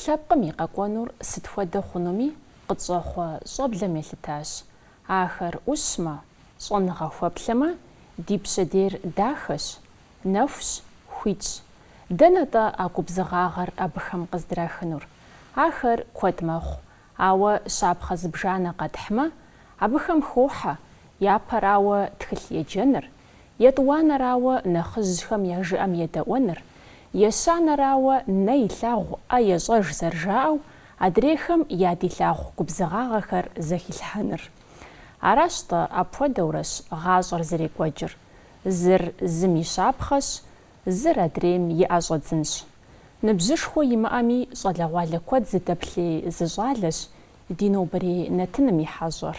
Лъэпкъым и къэкӏуэнур сыт хуэдэ хъунуми къытщӏэхъуэ щӏэблэм елъытащ. Ахэр ӏущмэ, щӏэныгъэ хуэплъэмэ, ди пщэдейр дахэщ, нэхущ, хуитщ. Дэнэ-тӏэ а губзыгъагъэр абыхэм къыздрахынур? Ахэр куэд мэхъу, ауэ щапхъэ зыбжанэ къэтхьмэ, абыхэм хохьэ япэрауэ тхылъ еджэныр, Етӏуанэрауэ, нэхъыжьхэм я жыӏэм едэӏуэныр, ещанэрауэ, нэ илъагъу ӏэ ещӏэж зэрыжаӏэу, адрейхэм ядилъагъу губзыгъагъэхэр зэхилъхьэныр. Аращ-тӏэ, апхуэдэурэщ гъащӏэр зэрекӏуэкӏыр, зыр зым и щапхъэщ, зыр адрейм и ӏэ щӏэдзынщ. Ныбжьышхуэ имыӏэми, щӏалэгъуалэ куэд зыдэплъей зы щӏалэщ ди нобэрей нэтыным и хьэщӏэр.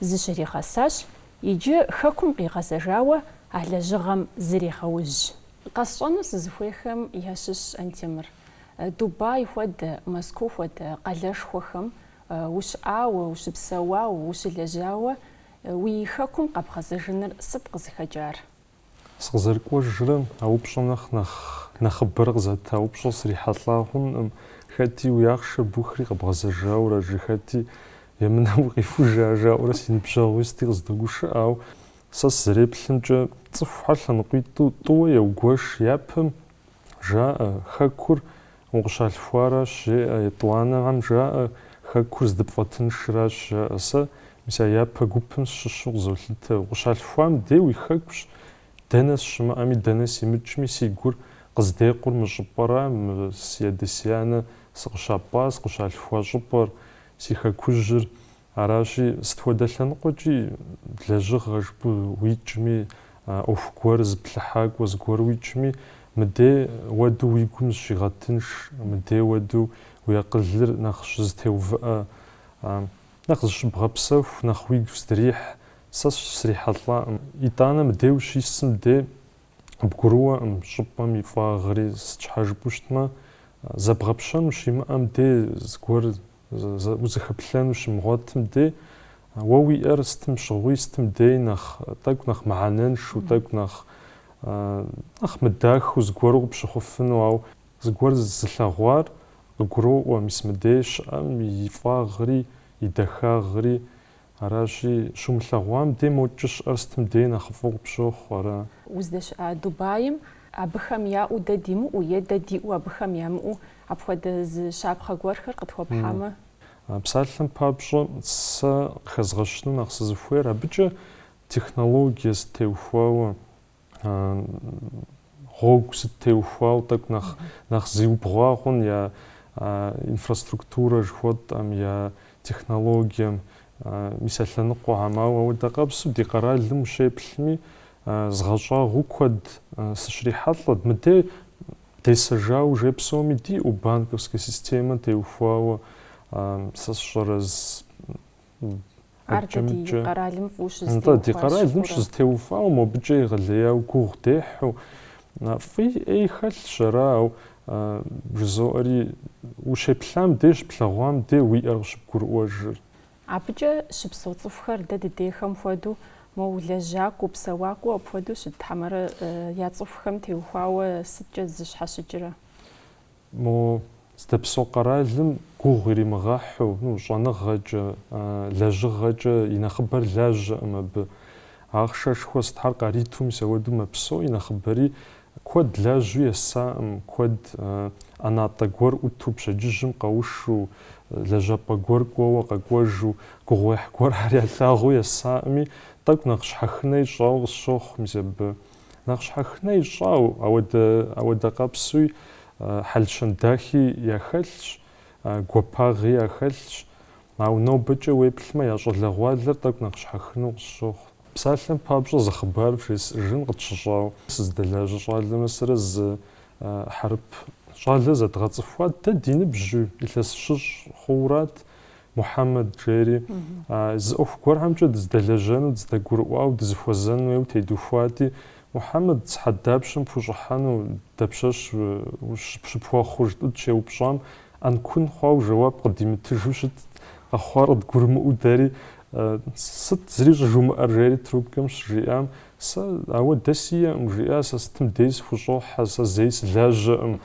Зыщригъэсащ, иджы Хэкум къигъэзэжауэ а лэжьыгъэм зрегъэужь. Къэсщӏэну сызыхуейхэм ящыщщ Антемыр. Дубай хуэдэ, Москва хуэдэ къалэшхуэхэм ущыӏауэ, ущыпсэуауэ, ущылэжьауэ уи Хэкум къэбгъэзэжыныр сыт къызыхэкӏар? Сыкъызэрыкӏуэжрэ а упщӏэм нэхъ нэхъыбэрэ къызэта упщӏэ срихьэлӏа хъункъым, хэти уи ахъшэр бухри къэбгъэзэжауэрэ, жи, хэти емынэм укъихужа жаӏэурэ си ныбжьэгъуи сыти къыздогушыӏэ, ауэ сэ сызэреплъымкӏэ, цӏыхухэр лъэныкъуитӏу тӏууэ еугуэш япэм, жаӏэ, Хэкур укъыщалъхуаращ, жеӏэ, етӏуанэхэм жаӏэ, Хэкур здыпфӏэтыншращ, жаӏэ, сэ мис а япэ гупым сщыщу къызолъытэ, укъыщалъхуам дей уи Хэкущ, дэнэ сщымыӏэми, дэнэ симыкӏми, си гур къыздекъур мы щӏыпӏэра, мы си адэ-си анэ сыкъыщапӏа, сыкъыщалъхуа щӏыпӏэр, си Хэкужьыр Аращи, сыт хуэдэ лъэныкъуэкӏи лэжьыгъэ жыпӏэу уикӏми, ӏуэху гуэр зыплъыхьакӏуэ зыгуэр уикӏми, мыдей уэду уи гум зыщигъэтынш, мыдей уэду уи акъылыр нэхъ щызэтеувыӏэ, нэхъ зыщыбгъэпсэху, нэхъ уигу зыдрихь, сэ срихьэлӏакъым. Итӏанэ мыдей ущисым де бгурыӏуэкъым, щӏыпӏэм и фӏагъри сыт щхьэ жыпӏэу щытмэ, зэбгъэпщэну щимыӏэм де зыгуэр узыхэплъэну щымыгъуэтым дей, уэ уиӏэр сытым щыгъуи, сытым дей нэхъ тӏэкӏу нэхъ мыхьэнэншэу, тӏэкӏу нэхъ нэхъ мыдахэу зыгуэру къыпщыхъуфыну, ауэ зыгуэр зылъэгъуар къыгуроӏуэ мис мыдей щыӏэм и фӏагъри, и дахагъри, Аращи, щумылъэгъуам дей мокӏэ щыӏэр сытым дей нэхъыфӏу къыпщохъу ара? Уздэщыӏа Дубаим абыхэм яӏэу дэ димыӏэу е дэ диӏэу абыхэм ямыӏэу апхуэдэ зы щапхъэ гуэрхэр къытхуэпхьамэ? Псалъэм папщӏэ, сэ къыхэзгъэщыну нэхъ сызыхуейр абыкӏэ технологие зытеухуауэ. гъуэгу сыт теухуауэ тӏэкӏу нэхъ зиубгъуа хъун я инфраструктурэ жыхуэтӏэм, я технологием, мис а лъэныкъуэхэм. Ауэ ауэдэ къэпсу ди къэралым ущеплъми, згъэщӏагъуэу куэд сыщрихьэлӏэт. Мыдей десэжауэ жей псоми диӏэу банковская системэ теухуауэ сэ сщӏэрэ Ар дэ ди къэралым фӏыуэ щызэтеухуащ. Нтӏэ, ди къэралым щызэтеувауэ, мобыкӏэ егъэлеяуэ гугъу дехьу. Фӏи ӏей хэлъщ ара, ауэ жызоӏэри, ущеплъам дей, щыплъэгъуам дей уиӏэр къыщыбгурыӏуэжыр. Абыкӏэ щыпсэу цӏыхухэр дэ дыдейхэм хуэдэу, моуэ лэжьакӏуэу, псэуакӏуэу апхуэдэу щыт хьэмэрэ я цӏыхухэм теухуауэ сыткӏэ зыщхьэщыкӏрэ? Мо здэпсэу къэралым гугъу иримыгъэхьу, ну, щӏэныгъэкӏэ, лэжьыгъэкӏэ и нэхъыбэр лажьэкъым абы. Ахъшэшхуэ сытхьэр къариту мис ауэду мэпсэу, и нэхъыбэри куэд лажьэу есакъым, куэд ӏэнатӏэ гуэр ӏуту пщэдджыжьым къэушу, лэжьапӏэ гуэр кӏуэуэ къэкӏуэжу, гугъуехь гуэр ар ялъагъуу есакъыми, тӏэкӏу нэхъ щхьэхынэ ищӏауэ къысщохъу мис абы. Нэхъ щхьэхынэ ищӏауэ, ауэ ауэдэ къэпсуи хьэл-щэн дахи яхэлъщ, гуапагъи яхэлъщ, ауэ нобэкӏэ уеплъмэ, я щӏалэгъуалэр тӏэкӏу нэхъ щхьэхыну къысщохъу. Псалъэм папщӏэ зы хъыбар вжесӏэжын къытщыщӏауэ, сызыдэлажьэ щӏалэмэ сэрэ зы хьэрып щӏалэ зэдгъэцӏыхуат. Дэ ди ныбжьу илъэс щыщӏ хъуурат. Мухьэмэд, жери, зы ӏуэху гуэрхэмкӏэ дыздэлэжьэну, дыздэгурыӏуауэ, дызыхуэзэн хуейуэ тедухуати, Мухьэмэд, сыхьэт дапщэм пхущӏыхьэну, дапщэщ щыпхуэхъу? жытӏу щеупщӏам, ӏэнкун хъуауэ жэуап къыдимытыжу щытт, къэхъуар къыдгурымыӏуэу дэри, Сыт, зыри щӏыжумыӏэр? жери трубкэм щыжиӏам, Сэ, ауэдэ сиӏэкъым, жиӏа, сэ сытым дей сыхущӏохьэ, сэ зэи сылажьэкъым,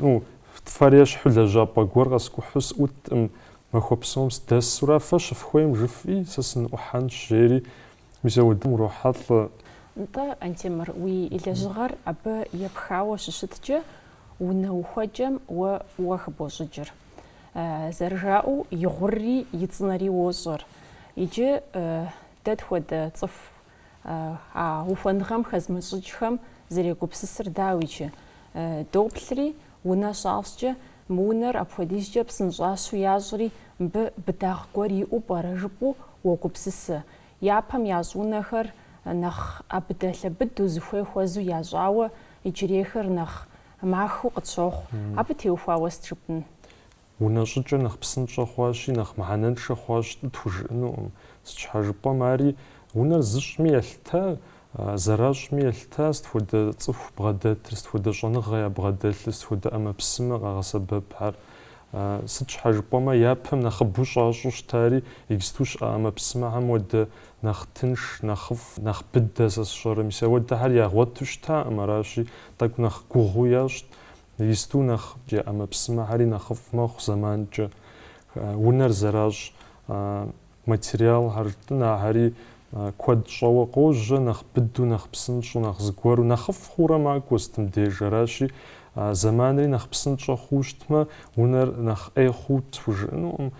ну, Фэ фэр ещхьу лэжьапӏэ гуэр къэскӏухьу сӏутӏым, махуэ псом сдэсура, фэ щыфхуейм жыфӏи, сэ сыныӏухьэнщ, жери мис ауэдым урохьэлӏэ. Нтӏэ, Антемыр, уи лэжьыгъэр абы епхауэ щыщыткӏэ, унэ ухуэкӏэм уэ фӏыуэ хыбощӏыкӏыр. Зэрыжаӏэу, и гъурри и цӏынэри уощӏэр. Иджы дэ тхуэдэ цӏыху А ухуэныгъэм хэзмыщӏыкӏхэм зэрегупсысыр дауичи, доплъри, унэ щащӏкӏэ, мы унэр апхуэдизкӏэ псынщӏащу ящӏри, мыбы быдагъ гуэр иӏэу пӏэрэ жыпӏэу уогупсысэ. Япэм ящӏ унэхэр нэхъ ӏэбыдэлъэбыдэу, зыхуей хуэзу ящӏауэ, иджырейхэр нэхъ махэу къытщохъу. Абы теухуауэ сыт жыпӏэн? Унэ щӏыкӏэ нэхъ псынщӏэ хъуащи, нэхъ мыхьэнэншэ хъуащ тӏы тхужыӏэнукъым. Сыт щхьэ жыпӏэм, ари унэр зыщӏми елъытэ, зэращӏми елъытэ, сыт хуэдэ цӏыху бгъэдэтыр, сыт хуэдэ щӏэныгъэ ябгъэдэлъыр, сыт хуэдэ ӏэмэпсымэ къагъэсэбэпхьэр. Сыт щхьэ жыпӏэмэ, япэм нэхъыбэу щӏащӏэу щытари, исту щыӏэ ӏэмэпсымэхэм уэдэ нэхъ тынш, нэхъыфӏ, нэхъ быдэ сэ сщӏэрэ. Мис ауэдэхэр ягъуэту щытаӏым, аращи, тӏэкӏу нэхъ гугъуу ящӏт. Исту нэхъ я ӏэмэпсымэхьэри нэхъыфӏ мэхъу зэманкӏэ. Унэр зэращӏ материалхэр, тӏынэхэри куэд щӏэуэ къожьэ, нэхъ быдэу, нэхъ псынщӏэу, нэхъ зыгуэру, нэхъыфӏ хъуурэ макӏуэ сытым деж. Аращи, зэманри нэхъ псынщӏэ хъуу щытмэ, унэр нэхъ ӏей хъуу тхужыӏэнукъым.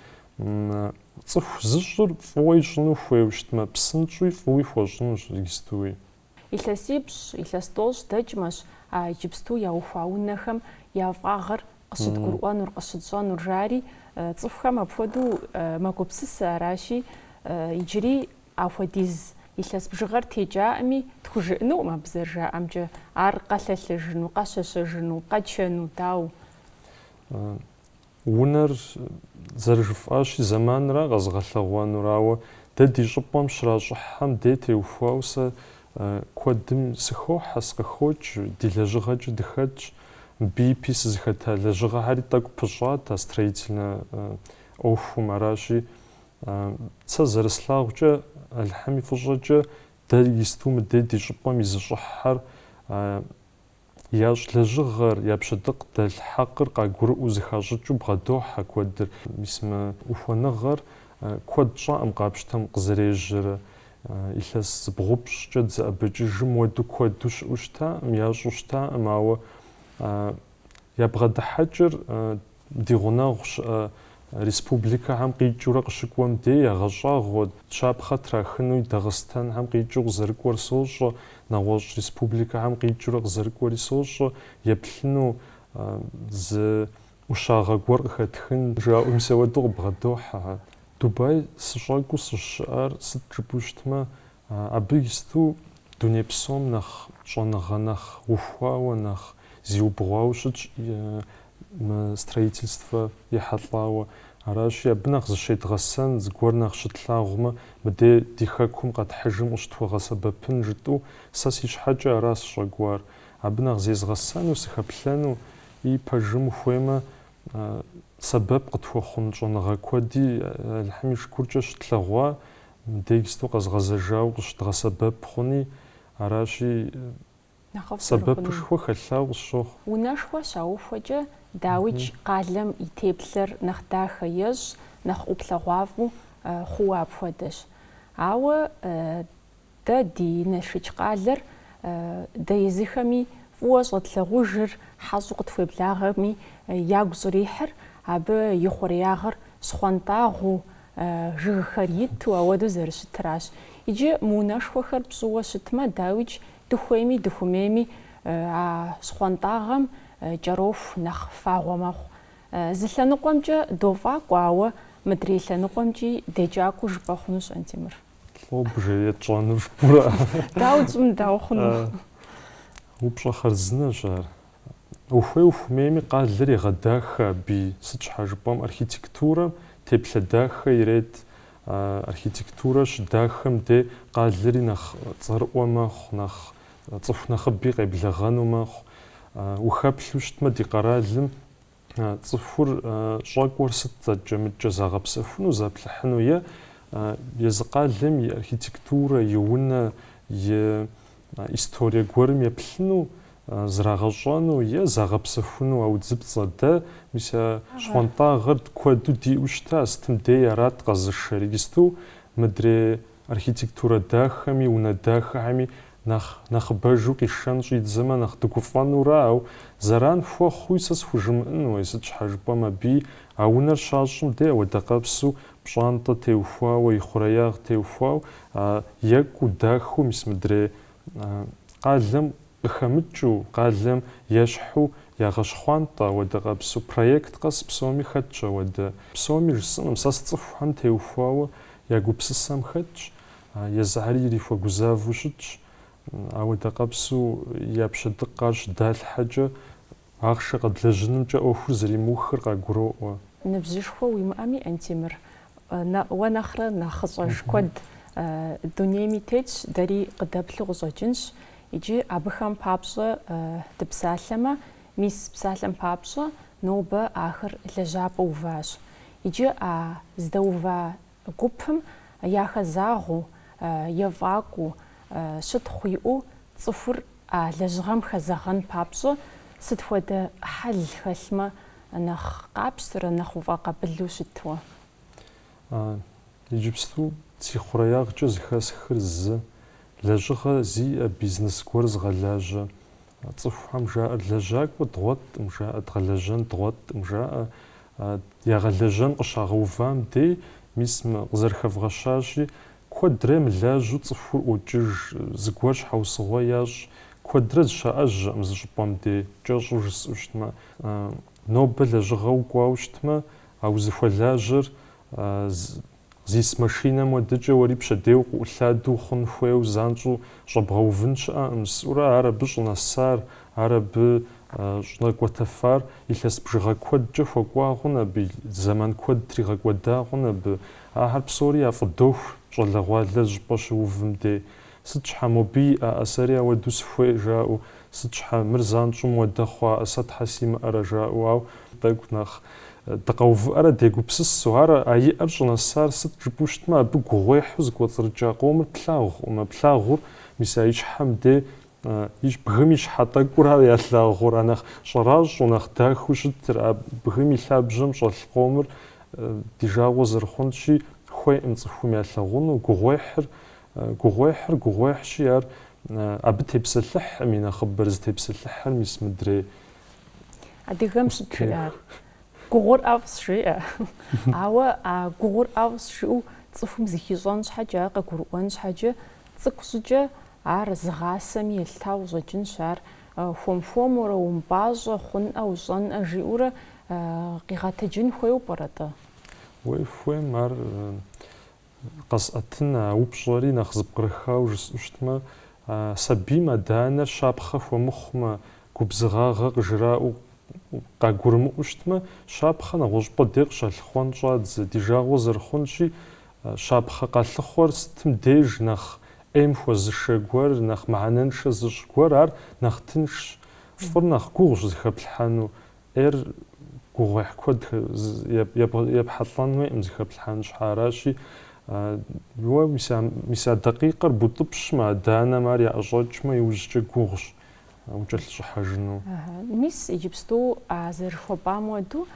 Цӏыху зыщӏыр фӏыуэ ищӏыну хуейуэ щытмэ, псынщӏэуи фӏыуи хуэщӏынущ, истуи. Илъэсипщӏ, илъэс тӏощӏ дэкӏмэщ а иджыпсту яухуа унэхэм я фӏагъыр къыщыдгурыӏуэнур, къыщытщӏэнур, жари, цӏыхухэм апхуэдэу мэгупсысэ, аращи, иджыри ахуэдиз илъэс бжыгъэр текӏаӏыми, тхужыӏынуӏым абы зэрыжаӏэмкӏэ, ар къэлъэлъэжыну, къэщэщэжыну, къэчэну, дауэ? Унэр зэрыжыфӏащи, зэманра къэзыгъэлъэгъуэнур, ауэ дэ ди щӏыпӏэм щращӏыхьхэм де теухуауэ сэ куэдым сыхохьэ, сыкъыхокӏ, ди лэжьыгъэкӏэ дыхэтщ. Мыбы ипи сызыхэта лэжьыгъэхьэри тӏэкӏу пыщӏат а строительнэ ӏуэхум. Аращи, сэ зэрыслъагъукӏэ, Алыхьым и фӏыщӏэкӏэ, дэ исту мыдей ди щӏыпӏэм изыщӏыхьхэр, Ящӏ лэжьыгъэр, я пщэдыкъ дэлъ хьэкъыр къагурыӏуэу зыхащӏыкӏыу бгъэдохьэ куэдыр. Мис мы ухуэныгъэр куэд щӏаӏым къапщтэм къызэрежьэрэ. Илъэс зыбгъупщӏкӏэ дызэӏэбэкӏыжым уэду куэду щыӏэу щытаӏым, ящӏу щытаӏым, ауэ ябгъэдыхьэкӏыр Ди гъунэгъу щыӏэ республикэхэм къикӏыурэ къыщыкӏуэм дей ягъэщӏагъуэ, щапхъэ трахынуи Дагъыстэнхэм къикӏыу къызэрыкӏуэр сощӏэ, нэгъуэщӏ республикэхэм къикӏыурэ къызэрыкӏуэри сощӏэ, еплъыну зы ӏущагъэ гуэр къыхэтхын жаӏэу мис ауэду къыбгъэдохьэ. Дубай сыщӏэкӏуу сыщӏыщыӏар сыт жыпӏэу щытмэ, Абы исту дуней псом нэхъ щӏэныгъэ, нэхъ ухуауэ, нэхъ зиубгъуауэ щытщ строительствэ ехьэлӏауэ. Аращи, абы нэхъ зыщедгъэсэн, зыгуэр нэхъ щытлъагъумэ, мыдей ди Хэкум къэтхьыжым къыщытхуэгъэсэбэпын жытӏу сэ си щхьэкӏэ ара сыщӏэкӏуар. Абы нэхъ зезгъэсэну, сыхэплъэну и пэжым ухуеймэ, сэбэп къытхуэхъун щӏэныгъэ куэди Алыхьым и шыкуркӏэ щытлъэгъуа Мыдей иджысту къэзгъэзэжауэ къыщыдгъэсэбэп хъуни, аращи, сэбэпышхуэ хэлъауэ къысщохъу. Унэшхуэ щаухуэкӏэ дауикӏ къалэм и теплъэр нэхъ дахэ ещӏ, нэхъ ӏуплъэгъуафӏэу хъууэ апхуэдэщ. Ауэ дэ ди Налшыч къалэр дэ езыхэми фӏыуэ щӏэтлъагъужыр, хьэщӏу къытхуеблагъэми, ягу щӏрихьыр абы и хъуреягъыр щхъуантӏагъэу, Жыгхэр иту, ауэдэу зэрыщытыращ. Иджы мы унэшхуэхэр пщӏыуэ щытмэ, дауикӏ, дыхуейми дыхумейми а щхъуантӏагъэм кӏэроху нэхъ фагъуэ мэхъу. Зы лъэныкъуэмкӏэ дофӏакӏуэ, ауэ мыдрей лъэныкъуэмкӏи декӏакӏуэ жыпӏэ хъунущ Антемыр. Лӏо бжэ етщӏэнур пӏэрэ? Дауэ тщӏын, дауэ хъуну? Упщӏэ хъарзынэщ ар. Ухуей ухумейми къалэр егъэдахэ абы, сыт щхьэ жыпӏэм архитектурэм теплъэ дахэ ирет. Архитектурэ щыдахэм де къалэри нэхъ цӏэрыӏуэ мэхъу, нэхъ цӏыху нэхъыби къеблэгъэну мэхъу. Ухэплъу щытмэ ди къэралым Цӏыхур щӏэкӏуэр сыт зэкӏэмыкӏэ загъэпсэхуну, заплъыхьыну е езы къалэм и архитектурэ, и унэ, и историе гуэрым еплъыну, зрагъэщӏэну е загъэпсэхуну а удзыпцӏэ? Дэ мис а щхъуантӏагъэр куэду диӏэу щыта, сытым дей арат къэзышэр, иджысту мыдрей Архитектурэ дахэми, унэ дахэхэми нэхъ нэхъыбэжу къишэн щӏидзэмэ, нэхъ дыгуфӏэнура, ау зэран хуэхъуи сэ схужымыӏэнуэ, сыт щхьэ жыпӏэм абы а унэр щащӏым де ауэдэ къэпсу пщӏантӏэ теухуауэ, и хъуреягъ теухуауэ, екӏуу, дахэу мис мыдрей къалэм Къыхэмыкӏыу, къалэм ещхьу ягъэщхъуантӏэ ауэдэ къэпсу проект къэс псоми хэтщ ауэдэ. Псоми жысӏэнукъым, сэ сцӏыхухэм теухуауэ я гупсысэм хэтщ, езыхьэри ирихуэгузавэу щытщ. Ауэдэ къэпсу я пщэдыкъ ар щыдалъхьэкӏэ. Ахъшэ къэдлэжьынымкӏэ ӏуэхур зэримыухыр къагуроӏуэ. Ныбжьышхуэ уимыӏэми, Антемыр, уэ нэхърэ нэхъыщӏэж куэд дунейми тетщ, дэри къыдэплъу къыщӏэкӏынщ. Иджы абыхэм папщӏэ дыпсалъэмэ, мис псалъэм папщӏэ, нобэ ахэр лэжьапӏэ уващ. Иджы а здэува Гупым яхэзагъэу ефӏакӏуэу, щытхъу иӏэу цӏыхур а лэжьыгъэм хэзэгъэн папщӏэ сыт хуэдэ хьэл хэлъмэ нэхъ къапщтэрэ нэхъ уфӏэкъабылу щытуэ? А, иджыпсту си хъуреягъкӏэ зыхэсххэр зы, лэжьыгъэ зиӏэ бизнес гуэр зыгъэлажьэ, Цӏыхухэм жаӏэр, Лэжьакӏуэ дгъуэткъым, жаӏэ, дгъэлэжьэн дгъуэткъым, жаӏэ, ягъэлэжьэн къыщагъэувам дей, мис мы къызэрыхэвгъэщащи, куэдрэ мылажьэу цӏыхур ӏуокӏыж, зыгуэр щхьэусыгъуэ ящӏ, куэдрэ зыщаӏэжьэкъым зы щӏыпӏэм дей, кӏэщӏу жысӏэу щытмэ. Нобэ лэжьыгъэу кӏуауэ щытмэ, а узыхуэлажьэр Зис машинэм уэдыкӏэ уэри пщэдейуэ къыӏулъадэу хъун хуейуэ занщӏэу щӏэбгъэувын щыӏэкъым, сӏурэ ар абы щӏынэсар, ар абы щӏынэкӏуэтэфар, илъэс бжыгъэ куэдкӏэ хуэкӏуа хъун абы, зэман куэд тригъэкӏуэда хъун абы. Ахэр псори яфӏыдоху щӏалэгъуалэ лэжьапӏэ щыувым дей. Сыт щхьэ, мобы яӏэ, сэри ауэду сыхуей, жаӏэу, сыт щхьэ, мыр занщӏэу мыуэдэ хъуаӏэ, сэ щхьэ симыӏэрэ, жаӏэу, ау, тӏэкӏу нэхъ дыкъэувыӏэрэ дегупсысу, ар а иӏэр щӏынэсар сыт жыпӏэу щытмэ, абы гугъуехьу зыкӏуэцӏрыкӏа къомыр плъагъукъым, а плъагъур, мис а и щхьэм де, и щ, бгым и щхьэ тӏэкӏура ялъагъур, а нэхъ щӏэращӏэу, нэхъ дахэу щытыр, а бгым и лъабжьэм щӏэлъ къомыр ди жагъуэ зэрыхъунщи, хуейкъым цӏыхум ялъагъуну, гугъуехьыр Гугъуехьыр гугъуехьщи, ар абы тепсэлъыхькъым и нэхъыбэр зытепсэлъыхьыр мис мыдрей. Адыгэм сыт жиӏар? Гугъур ӏэфӏщ, жиӏэ. Ауэ а гугъур ӏэфӏщ жиӏэу цӏыхум зыхищӏэн щхьэкӏэ, ар къыгурыӏуэн щхьэкӏэ, цӏыкӏу щӏыкӏэ ар зыгъасэми елъытауэ щӏэкӏынщ, ар хуэм-хуэмурэ, умыпӏащӏэ, хъунӏэ, ущӏэнӏэ жиӏэурэ къигъэтэджын хуейуэ пӏэрэ-тӏэ? Уей хуейм ар Къэсӏэтын, а упщӏэри нэхъ зыпкърыхауэ жысӏэу щытмэ, сабийм адэ-анэр щапхъэ хуэмыхъумэ, губзыгъагъэ къыжраӏэу къагурымыӏуэу щытмэ, щапхъэ нэгъуэщӏыпӏэ дей къыщалъыхъуэн щӏадзэ. Ди жагъуэ зэрыхъунщи, щапхъэ къалъыхъуэр сытым деж нэхъ ӏейм хуэзышэ гуэр, нэхъ мыхьэнэншэ зыщӏ гуэр, ар нэхъ тыншщ. Фӏыр нэхъ гугъущ зыхэплъхьэну, Ӏейр гугъуехь куэд епхьэлӏэн хуейкъым, зыхэплъхьэн щхьэ. Аращи, уэ мис а дакъикъэр бутӏыпщмэ, адэ-анэм ар яӏэщӏэкӏмэ, иужькӏэ гугъущ укӏэлъыщӏыхьэжыну. Мис иджыпсту а зэрыхуэпӏам уэду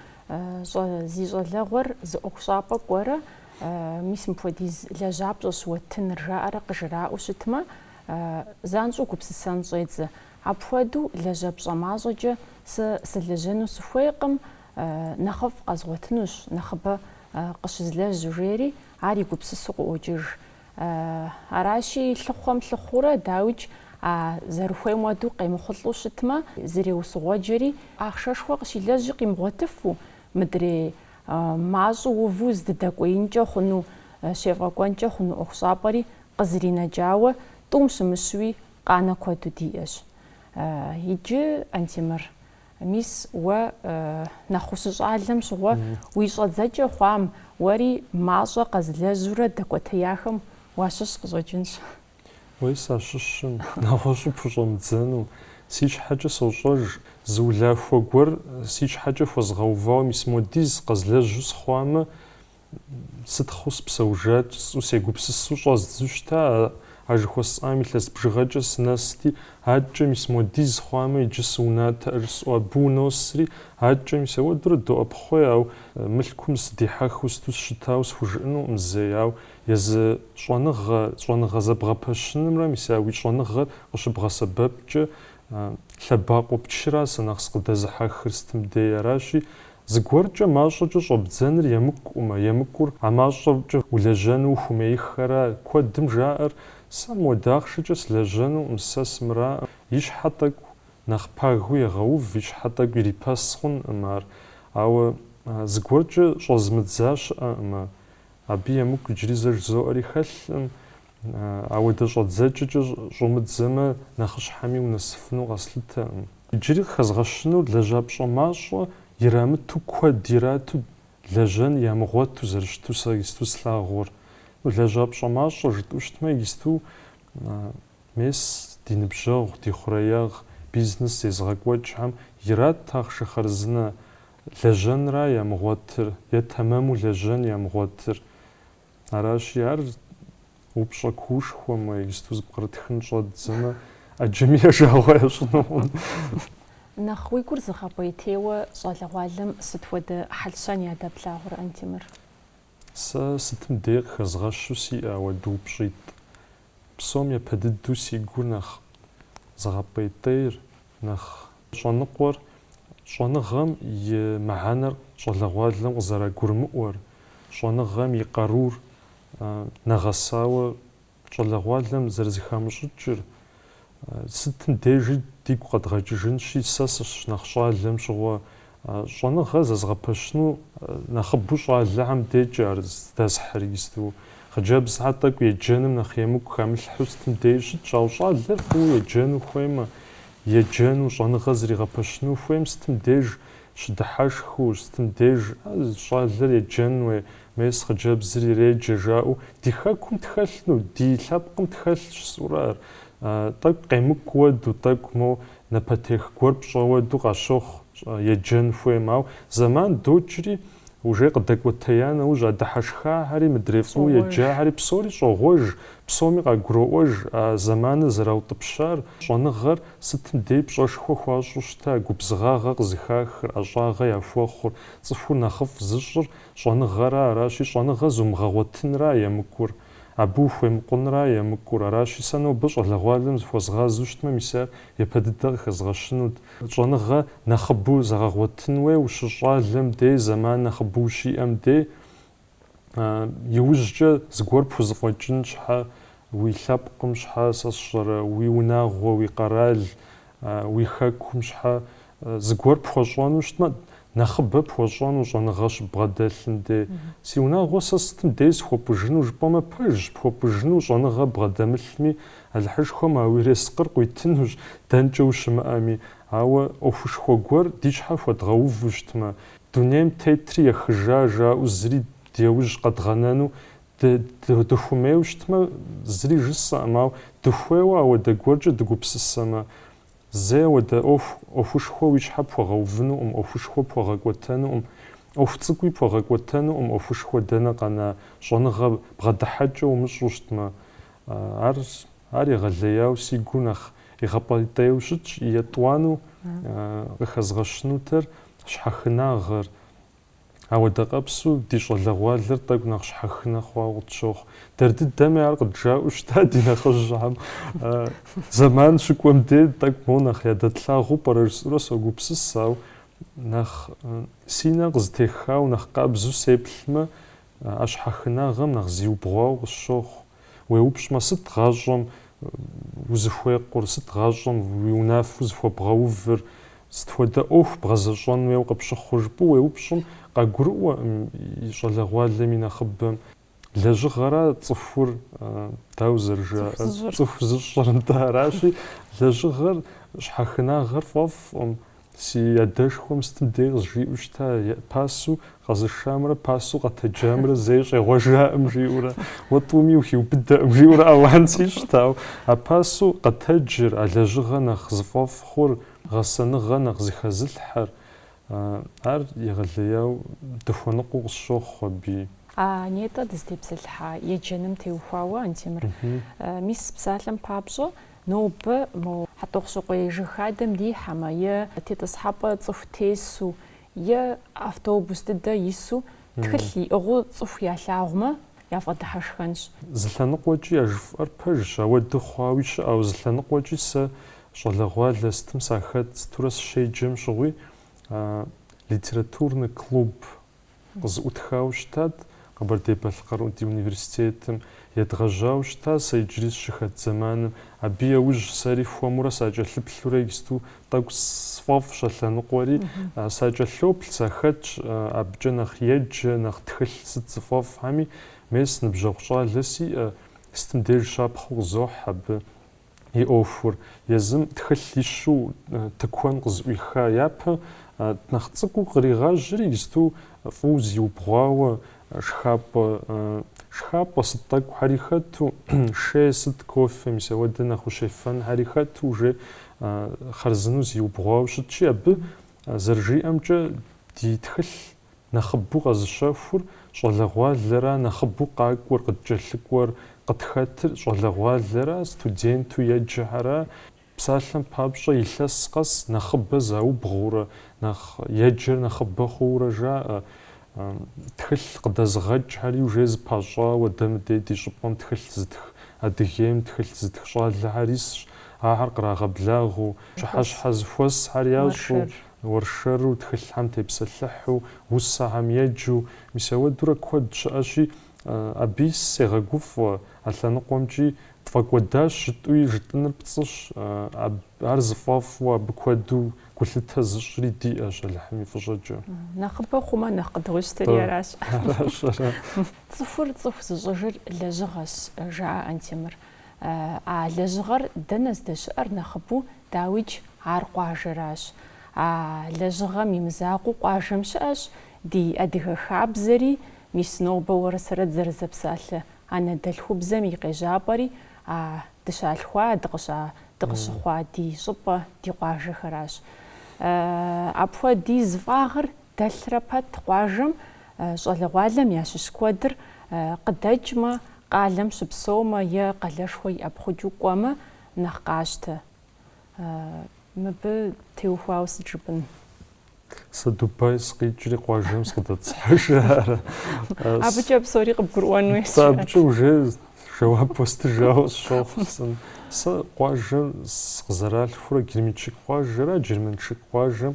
зи щӏалэгъуэр зы ӏуэхущӏапӏэ кӏуэрэ, мис мыпхуэдиз лэжьапщӏэщ уэттыныр, жаӏэрэ къыжраӏэу щытмэ, занщӏэу гупсысэн щӏедзэ. Апхуэдэу лэжьапщӏэ мащӏэкӏэ сэ сылэжьэну сыхуейкъым, нэхъыфӏ къэзгъуэтынущ, нэхъыбэ къыщызлэжь, жери ар и гупсысу къыӏуокӏыж. Аращи, лъыхъуэм лъыхъуурэ, дауикӏ, а зэрыхуейм уэду къемыхъулӏэу щытмэ, зреусыгуэджэри, ахъшэшхуэ къыщилэжьи къимыгъуэтыфу, мыдрей мащӏэу уву здыдэкӏуеинкӏэ хъуну, щефӏэкӏуэнкӏэ хъуну ӏуэхущӏапӏэри къызринэкӏауэ, тӏум щымыщуи, Къанэ куэду диӏэщ иджы, Антемыр. Мис уэ нэхъ ущыщӏалэм щыгъуэ уи щӏэдзэкӏэ хъуам, уэри мащӏэ къэзылэжьурэ дэкӏуэтеяхэм уащыщ къыщӏэкӏынщ. Уей сащыщым, нэгъуэщӏу пхущӏэмыдзэну. Си щхьэкӏэ сощӏэж, зы улахуэ гуэр си щхьэкӏэ хуэзгъэувауэ мис модиз къэзлэжьу сыхъуамэ, Сытхъу спсэужэкӏ, сӏу сегупсысу щӏэздзу щыта а жыхуэсӏам илъэс бжыгъэкӏэ сынэсти, адкӏэ мис модиз хъуамэ иджы сыунатӏэр, сӏу абы уносри, адкӏэ мис ауэдурэ доӏэпхъуей, ау мылъкум сыдихьэхыу сыту сщытауэ схужыӏэнукъым зэи, ау езы щӏэныгъэ, щӏэныгъэ зэбгъэпэщынымрэ мис а уи щӏэныгъэр къыщыбгъэсэбэпкӏэ лъэбакъуэу пчыра сэ нэхъ сыкъыдэзыхьэхыр сытым дей, аращи, Зыгуэркӏэ мащӏэкӏэ щӏэбдзэныр емыкӏукъым, емыкӏур а мащӏэкӏэ улэжьэну ухумейххэра. Куэдым жаӏэр, Сэ модахъшэкӏэ слэжьэнукъым, сэ сымыракъэ. И щхьэ тӏэкӏу нэхъ пагу егъэув, и щхьэ тӏэкӏу ирипэс хъункъым ар. Ауэ зыгуэркӏэ щӏэзмыдза щыӏэкъым. Абы емыкӏу иджыри зэ жызоӏэри хэлъкъым. Ауэ дэ щӏэдзэкӏэкӏэ щӏумыдзэмэ, нэхъыщхьэми унэсыфыну къэслъытэкъым. Иджыри къыхэзгъэщынур лэжьапщӏэ мащӏэ ирамыту куэд ирату лэжьэн ямыгъуэту зэрыщыту сэ исту слъагъур. Лэжьапщӏэ мащӏэ жытӏэу щытмэ, исту мес ди ныбжьэгъу, ди хъуреягъ, бизнес езыгъэкӏуэкӏхэм ират ахъшэ хъарзынэ лэжьэнра ямыгъуэтыр е тэмэму лэжьэн ямыгъуэтыр. Аращи, ар упщӏэ куушхуэмэ, иджысту зыпкърытхын щӏэддзэмэ, ӏэджэми я жагъуэ ящӏынукъым. Нэхъ уи гур зыгъэпӏейтейуэ щӏалэгъуалэм сыт хуэдэ хьэл-щэн ядэплъагъур, Антемыр? Сэ сытым дей къыхэзгъэщу сиӏэ хуэду упщӏитӏ. Псом епэ дыдэу си гур нэхъ зыгъэпӏейтейр, нэхъ щӏэныкъуэр, щӏэныгъэм и мыхьэнэр щӏалэгъуалэм къызэрагурымыӏуэр, щӏэныгъэм и къарур нэгъэсауэ щӏалэгъуалэм зэрызыхамыщӏыкӏыр, сытым дежи дигу къэдгъэкӏыжынщи, сэ сыщынэхъ щӏалэм щыгъуэ Щӏэныгъэ зэзгъэпэщыну нэхъыбэу щӏалэхэм декӏэ ар здэсхьыр исту. Хъыджэбзхэ тӏэкӏу еджэным нэхъ емыкӏу хамылъхьэу сытым деи щытщ, ауэ щӏалэр фӏыуэ еджэну хуеймэ, еджэну, щӏэныгъэ зригъэпэщыну хуейм сытым деж щыдыхьэшхыу, сытым деж щӏалэр еджэн уей, мес хъыджэбзыр иреджэ жаӏэу ди хэкум тхэлъну, ди лъэпкъым тхэлъщ жысӏурэ ар. Тӏэкӏу къемыкӏу хуэду тӏэкӏу, мо Напэтех гуэр пщӏэ уэду къащохъу, еджэн хуейм. Ауэ зэман докӏри, ужей къыдэкӏуэтея нэужь, а дыхьэшхахэри, мыдрей фӏыуэ еджахэри псори щӏогъуэж, псоми къагуроӏуэж а зэманыр зэраутӏыпщар, щӏэныгъэр сытым дей пщӏэшхуэ хуащӏу щыта, губзыгъагъэ къызыхахыр, ӏэщӏагъэ яхуэхъур, цӏыхур нэхъыфӏ зыщӏыр щӏэныгъэра, аращи, щӏэныгъэ зумыгъэгъуэтынра емыкӏур. Абы ухуемыкъунра емыкӏур, аращи, сэ нобэ щӏалэгъуалэм зыхуэзгъазу щытмэ, мис ар япэ дыдэ къыхэзгъэщынут. Щӏэныгъэ нэхъыбэу зэгъэгъуэтын хуей ущыщӏалэм дей, зэман нэхъыбэу ущиӏэм дей. Иужькӏэ зыгуэр пхузэфӏэкӏын щхьэ, уи лъэпкъым щхьэ, сэ сщӏэрэ, уи унагъуэ, уи къэрал, Уи хэкум щхьэ зыгуэр пхуэщӏэну щытмэ, нэхъыбэ пхуэщӏэну щӏэныгъэ щыббгъэдэлъым де. Си унагъуэ сэ сытым дей схуэпӏыжыну жыпӏэмэ, пэжщ, пхуэпӏыжыну щӏэныгъэ бгъэдэмылъми, Алыхьышхуэм а уи ерыскъыр къуитынущ, дэнкӏэ ущымыӏэми. Ауэ ӏуэхушхуэ гуэр ди щхьэ хуэдгъэуву щытмэ, дунейм тетри ехыжа жаӏэу зыри ди яужь къэдгъэнэну Дыхуэмейуэ щытмэ, зыри жысӏэкъым, ауэ дыхуейуэ ауэдэ гуэркӏэ дыгупсысэмэ, зэи ауэдэ ӏуэху, ӏуэхушхуэ уи щхьэ пхуэгъэувынукъым, ӏуэхушхуэ пхуэгъэкӏуэтэнукъым. ӏуэху цӏыкӏуи пхуэгъэкӏуэтэнукъым, ӏуэхушхуэ дэнэ къэна щӏэныгъэ бгъэдыхьэкӏэ умыщӏу щытмэ. Ар, ар егъэлеяуэ си гу нэхъ игъэпӏейтейуэ щытщ, етӏуанэу къыхэзгъэщынутэр щхьэхынагъэр. Ауэ дэ къэпсу ди щӏалэгъуалэр тӏэкӏу нэхъ щхьэхынэ хъуауэ къытщохъу. Дэр дыдэми ар къыджаӏэу щыта ди нэхъыжьхэм. Зэман щыкӏуэм дей тӏэкӏу моуэ нэхъ ядэтлъагъуу пӏэрэ жысӏэурэ согупсыс, ауэ нэхъ си нэ къызэтехауэ нэхъ къабзэу сеплъмэ, а щхьэхынагъэм нэхъ зиубгъуауэ къысщохъу. Уеупщӏмэ, сыт гъащӏэм узыхуекъур, сыт гъащӏэм уи унафэу зыхуэбгъэувыр, сыт хуэдэ ӏуэху бгъэзэщӏэн хуейуэ къыпщыхъур жыпӏэу уеупщӏым, къагурыӏуэкъым и щӏалэгъуалэм и нэхъыбэм. Лэжьыгъэра цӏыхур, дауэ зэрыжаӏэр, цӏыху зыщӏыр, нтӏэ, аращи, лэжьыгъэр щхьэхынагъэр фӏэфӏкъым. Си адэшхуэм сытым дей къызжиӏэу щыта, пасэу къэзышамрэ пасэу къэтэджамрэ зэи щӏегъуэжаӏым жиӏэурэ, уэ тӏуми ухиубыдэкъым жиӏэурэ ауан сищӏт, ауэ а пасэу къэтэджыр, а лэжьыгъэ нэхъ зыфӏэфӏ хъур, гъэсэныгъэ нэхъ зыхэзылъхьэр, ар егъэлеяуэ дыхуэныкъуэу къысщохъу абы. А нетӏэ дызытепсэлъыхьа еджэным теухуауэ, Антемыр, мис псалъэм папщӏэ, Нобэ мо Хьэтӏохъущыкъуей жыг хадэм дихьэмэ, е тетӏысхьэпӏэ цӏыху тесу, е автобус дыдэ ису тхылъ иӏыгъыу цӏыху ялъагъумэ, яфӏэдыхьэшхэнщ. Зы лъэныкъуэкӏи а жыфӏэр пэжщ, ауэдэ хъуауи щыӏэу, зы лъэныкъуэкӏи сэ щӏалэгъуалэ сытым сахэт, сытурэ сыщеджэм щыгъуи литературный клуб, къызыӏутхауэ щытат Къэбэрдей-Балъкъэр ди университетым. Едгъэжьауэ щыта сэ иджыри сыщыхэт зэманым. Абы яужь сэри хуэмурэ сакӏэлъыплъурэ исту тӏэкӏу сфӏэфӏщ а лъэныкъуэри. Сакӏэлъоплъ, сахэтщ абыкӏэ нэхъ еджэ, нэхъ тхылъ сыт зыфӏэфӏхэми. Мес, ныбжьэгъу щӏалэ сиӏэ, сытым деж щапхъэу къызохь абы. и ӏуэхур, езым тхылъ ищу тыкуэн къызыӏуиха япэ, нэхъ цӏыкӏуу къригъажьри, исту фӏыуэ зиубгъуауэ, шхапӏэ, шхапӏэ сыт тӏэкӏухьэри хэту, шей сыт, кофе, мис ауэдэ нэхъ ущефэнхьэри хэту уже хъарзыну зиубгъуауэ щытщи, абы, зэрыжиӏэмкӏэ, ди тхылъ Нэхъыбэу къэзыщэхур щӏалэгъуалэра нэхъыбэу къакӏуэр, къыткӏэлъыкӏуэр, къытхэтыр щӏалэгъуалэра, студенту еджэхьэра, псалъэм папщӏэ илъэс къэс нэхъыбэ заубгъуурэ, нэхъ еджэр нэхъыбэ хъуурэ жаӏэ. Тхылъ къыдэзыгъэкӏхьэри уже зыпащӏауэ дэ мыдей ди щӏыпӏэм тхылъ зытх, Адыгейм тхылъ зытх щӏалэхьэр исщ, ахьэр кърагъэблагъэу, пщыхьэщхьэ зыхуэсхьэр ящӏу, Уэршэру, тхылъхьэм тепсэлъыхьу, усэхьэм еджэу, мис ауэдурэ куэд щыӏэщи, абыи сегъэгуфӏэ, а лъэныкъуэмкӏи тфӏэкӏуэдащ жытӏуи, жытӏыныр пцӏыщ, ар зыфӏэфӏу абы куэду гулъытэ зыщӏри диӏэщ, Алыхьым и фӏыщӏэкӏэ. Нэхъыбэ хъумэ, нэхъ къыдгъуищтэри аращ. Цӏыхур цӏыху зыщӏыжыр лэжьыгъэщ, жаӏэ Антемыр. А лэжьыгъэр дэнэ здэщыӏэр нэхъыбэу, дауикӏ, ар къуажэращ. А лэжьыгъэм и мызакъуэу къуажэм щыӏэщ ди адыгэ хабзэри, мис нобэ уэрэ сэрэ дызэрызэпсалъэ анэдэлъхубзэм и къежьапӏэри а дыщалъхуа, дыкъыща, дыкъыщыхъуа ди щӏыпӏэ, ди къуажэхэращ. Апхуэдиз фӏагъыр Дэлърэ пэт къуажэм щӏалэгъуалэм ящыщ куэдыр къыдэкӏмэ, къалэм щыпсэумэ е къалэшхуэ иӏэпхъукӏыу кӏуэмэ нэхъ къащтэ. Мыбы теухуауэ сыт жыпӏын? Сэ Дубай сыкъикӏри къуажэм сыкъыдэтӏысхьэжарэ. Абыкӏэ псори къыбгурыӏуэн хуей. Сэ абыкӏэ уже жэуап уэстыжауэ сщохъу. Сэ къуажэм сыкъызэралъхурэ Герменчик къуажэра, Джэрмэншык къуажэм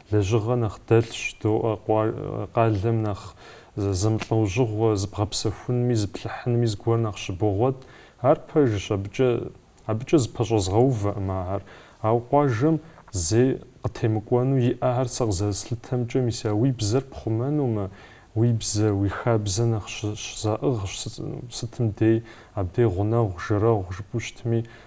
Лэжьыгъэ нэхъ дэлъщ, доӏэ, къуэ-къалэм нэхъ зэмылӏэужьыгъуэ, зыбгъэпсэхунми, зыплъыхьынми зыгуэр нэхъ щыбогъуэт. Ар пэжщ, абыкӏэ, абыкӏэ зыпэщӏэзгъэувэкъым ахэр. Ауэ къуажэм зэи къытемыкӏуэну иӏэхэр сэ къызэрыслъытэмкӏэ, мис а уи бзэр пхъумэнумэ, уи бзэ, уи хабзэ нэхъ щызаӏыгъщ, сытым дей, абдей гъунэгъу, жэрэгъу жыпӏу щытми,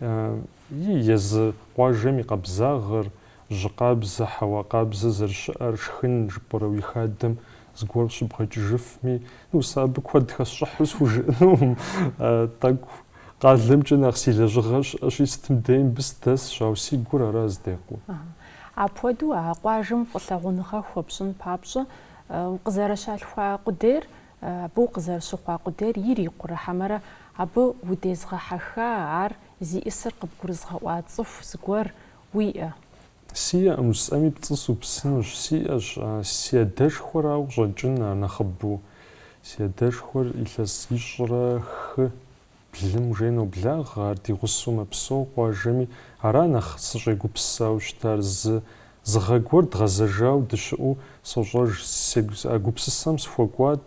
и езы къуажэм и къабзагъэр, жьы къабзэ, хьэуа къабзэ зэрыщыӏэр шхын жыпӏэрэ уи хадэм зыгуэр щыбгъэкӏыжыфми, ну, сэ абы куэд хэсщӏыхьу схужыӏэнукъым, тӏэкӏу къалэмкӏэ нэхъ си лэжьыгъэр щыӏэщи, сытым дей мыбы сыдэсщ, ауэ си гур ара здекъур. Апхуэдэу а къуажэм фӏылъагъуныгъэ хуэпщӏын папщӏэ укъызэрыщалъхуа къудейр Абы укъызэрыщыхъуа къудейр ирикъурэ хьэмэрэ абы удезгъэхьэха ар зиӏысыр къыбгурызгъэӏуа цӏыху зыгуэр уиӏэ? Сиӏэкъым, жысӏэми пцӏы супсынущ. Сиӏэщ, си адэшхуэрауэ къыщӏэкӏын а нэхъыбэу. Си адэшхуэр илъэс ищӏрэ хы Блым жей ноблагъэ, ар ди гъусэу мэпсэу къуажэми, ара нэхъ сыщӏегупсысауэ щытар, зы зы гъэ гуэр дгъэзэжау дыщыӏэу сощӏэж, сегу а гупсысэм сыхуэкӏуат,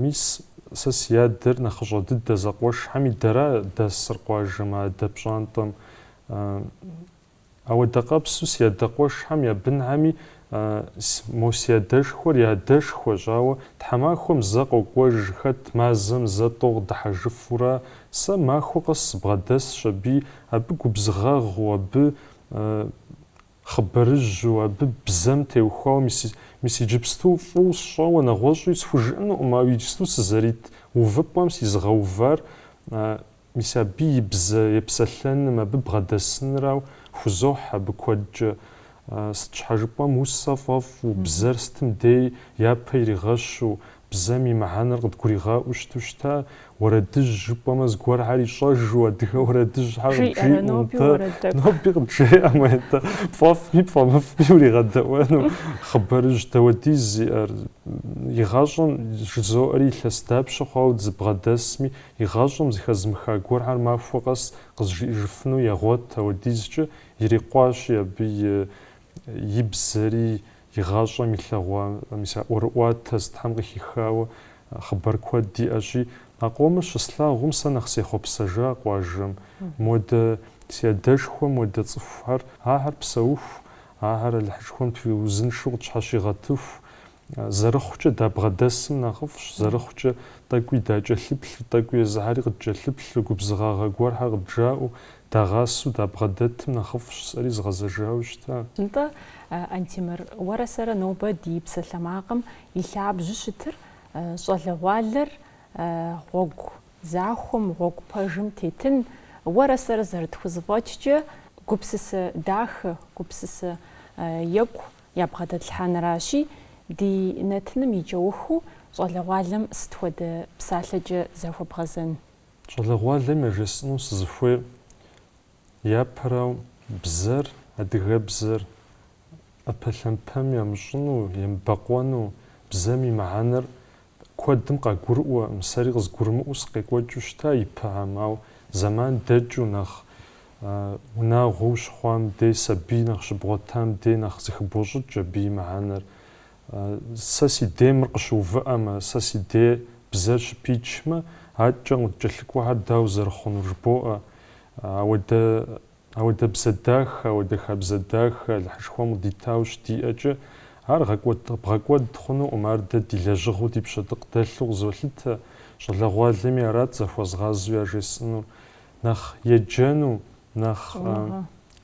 мис сэ си адэр нэхъыщӏэ дыдэ зэкъуэшхэми дэра дэсыр къуажэм адэ пщӏантӏэм, Ауэдэ къабзу си адэкъуэшхэм я бынхэми мо си адэшхуэр я адэшхуэщ, ауэ тхьэмахуэм зэ къокӏуэж, хэт мазэм зэ тӏо къыдыхьэжыфура, сэ махуэ къэс сыбгъэдэсщ аби, абы губзыгъагъу, абы хъыбарыжьу, абы бзэм теухуауэ, мис иджыпсту фӏыу сщӏэуэ нэгъуэщӏи схужыӏэнукъым, ауэ иджысту сызэрит увыпӏэм сизыгъэувар Мис абы и бзэ епсэлъэным, абы бгъэдэсынрау хузохь абы куэдкӏэ. Сыт щхьэ жыпӏэм усэ фӏэфӏу, бзэр сытым дей япэ иригъэщу, бзэм и мыхьэнэр къыдгуригъэӏуу щыту щыта? Уэрэдыжь жыпӏэмэ, зыгуэрхэр ищӏэжу, адыгэ уэрэдыжьхэр къыджиӏэу нтӏэ? Ноби къыджеӏэмэ, нтӏэ, пфӏэфӏми пфӏэмыфӏми уригъэдэӏуэну хъыбарыжь дауэдиз зиӏэр? Игъащӏэм жызоӏэри илъэс дапщэ хъуауэ сыбгъэдэсми, Игъащӏэм зыхэзмыха гуэрхэр махуэ къэс къызжиӏэжыфыну егъуэт, ауэдизкӏэ ирикъуащи абы и и бзэри, и гъащӏэм илъэгъуа, мис а ӏуэрыӏуатэ сытхэм къыхихауэ хъыбар куэд иӏэщи, а къомыр щыслъагъум сэ нэхъ сехъуэпсэжа къуажэм. Модэ си адэшхуэм хуэдэ цӏыхухэр, ахэр псэуху, ахэр Алыхьышхуэм тхуэузыншэу къытщхьэщигъэтыху, Зэрыхъукӏэ дабгъэдэсым нэхъыфӏщ, зэрыхъукӏэ тӏэкӏуи дакӏэлъыплъу, тӏэкӏуи езыхьэри къыдкӏэлъыплъу, губзыгъагъэ гуэрхэр къыдджаӏэу, дагъасэу дабгъэдэтым нэхъыфӏщ, сэри згъэзэжауэ щыта. Нтӏэ, Антемыр, уэрэ сэрэ нобэ ди псалъэмакъым и лъабжьу щытыр щӏалэгъуалэр гъуэгу захуэм, гъуэгу пэжым тетын, уэрэ сэрэ зэрытхузэфӏэкӏкӏэ гупсысэ дахэ, гупсысэ екӏу Ябгъэдэтлъхьэныращи, ди нэтыным и кӏэухыу щӏалэгъуалэм сыт хуэдэ псалъэкӏэ захуэбгъэзэн? Щӏалэгъуалэм яжесӏэну сызыхуейр япэрауэ, бзэр, адыгэбзэр ӏэпэлъэмпэм ямыщӏыну, емыбэкъуэну, бзэм и мыхьэнэр Куэдым къагурыӏуэ, сэри къызгурымыӏуэу сыкъекӏуэкӏыу щыта ипэхьэм, ауэ зэман дэкӏыу, нэхъ унагъуэу щыхъуам дей, сабий нэхъ щыбгъуэтам дей нэхъ зыхыбощӏыкӏ абы и мыхьэнэр. Сэ си дей мыр къыщыувыӏэмэ, сэ си дей бзэр щыпичмэ, адэкӏэ къыдкӏэлъыкӏуэхэр дауэ зэрыхъунур жыбоӏэ. Ауэдэ. Ауэдэ бзэ дах, ауэдэ хабзэ дах Алыхьышхуэм къыдитауэ щыдиӏэкӏэ, ар гъэкӏуэд- бгъэкӏуэд хъунукъым, ар дэ ди лэжьыгъэу, ди пщэдыкъ дэлъу къызолъытэ, щӏалэгъуалэми арат захуэзгъазэу яжесӏэнур, нэхъ еджэну, нэхъ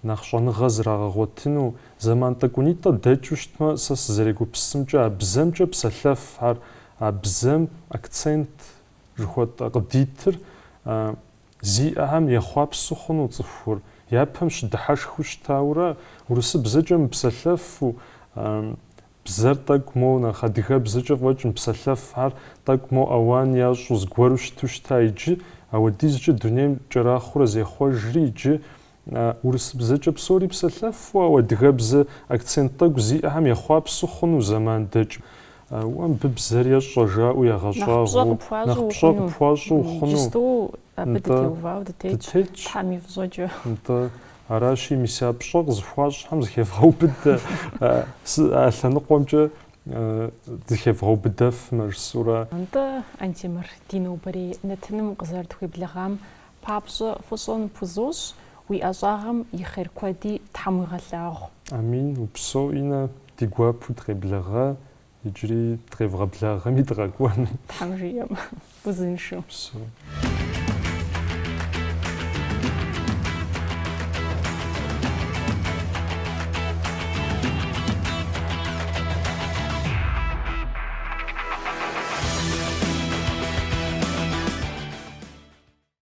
нэхъ щӏэныгъэ зрагъэгъуэтыну, зэман тӏэкӏунитӏэ дэкӏыу щытмэ, сэ сызэрегупсымкӏэ, а бзэмкӏэ псэлъэфхэр, а бзэм акцент жыхуэтӏэ къыдитыр, Зиӏэхэм ехъуапсэу хъуну цӏыхур япэм щыдыхьэшхыу щытаурэ, урысыбзэкӏэ мыпсэлъэфу, бзэр тӏэкӏу моу нэхъ адыгэбзэкӏэ фӏэкӏ мыпсэлъэфхэр тӏэкӏу моу ауан ящӏу зыгуэру щыту щыта иджы, ауэдизкӏэ дунейм кӏэрахъуэурэ зехъуэжри иджы Урысыбзэкӏэ псори псэлъэфу, ауэ адыгэбзэ акцент тӏэкӏу зиӏэхэм ехъуапсэу хъуну зэман дэкӏ. Уэ мыбы бзэр ещӏэ жаӏэу ягъэщӏагъуэу, нэхъ пщӏэ къыпхуащӏу ухъуну. Иджысту абы дытеувауэ дытетщ, Тхьэм и фӏыщӏэкӏэ. Аращи, мис а пщӏэ къызыхуащӏхэм зыхевгъэубыдэ, а лъэныкъуэмкӏэ зыхевгъэубыдэфмэ, жысӏэурэ. Нтӏэ, Антемыр, ди нобэрей нэтыным укъызэрытхуеблэгъам Папщӏэ фӏыщӏэ ныпхузощӏ, уи ӏэщӏагъэм и хъер куэди Тхьэм уигъэлъагъу. Амин, упсэу Иннэ, ди гуапэу дыкъеблэгъэ, иджыри дыкъевгъэблагъэми дыкъэкӏуэну. Тхьэм жиӏэм, узыншэу. Псэу.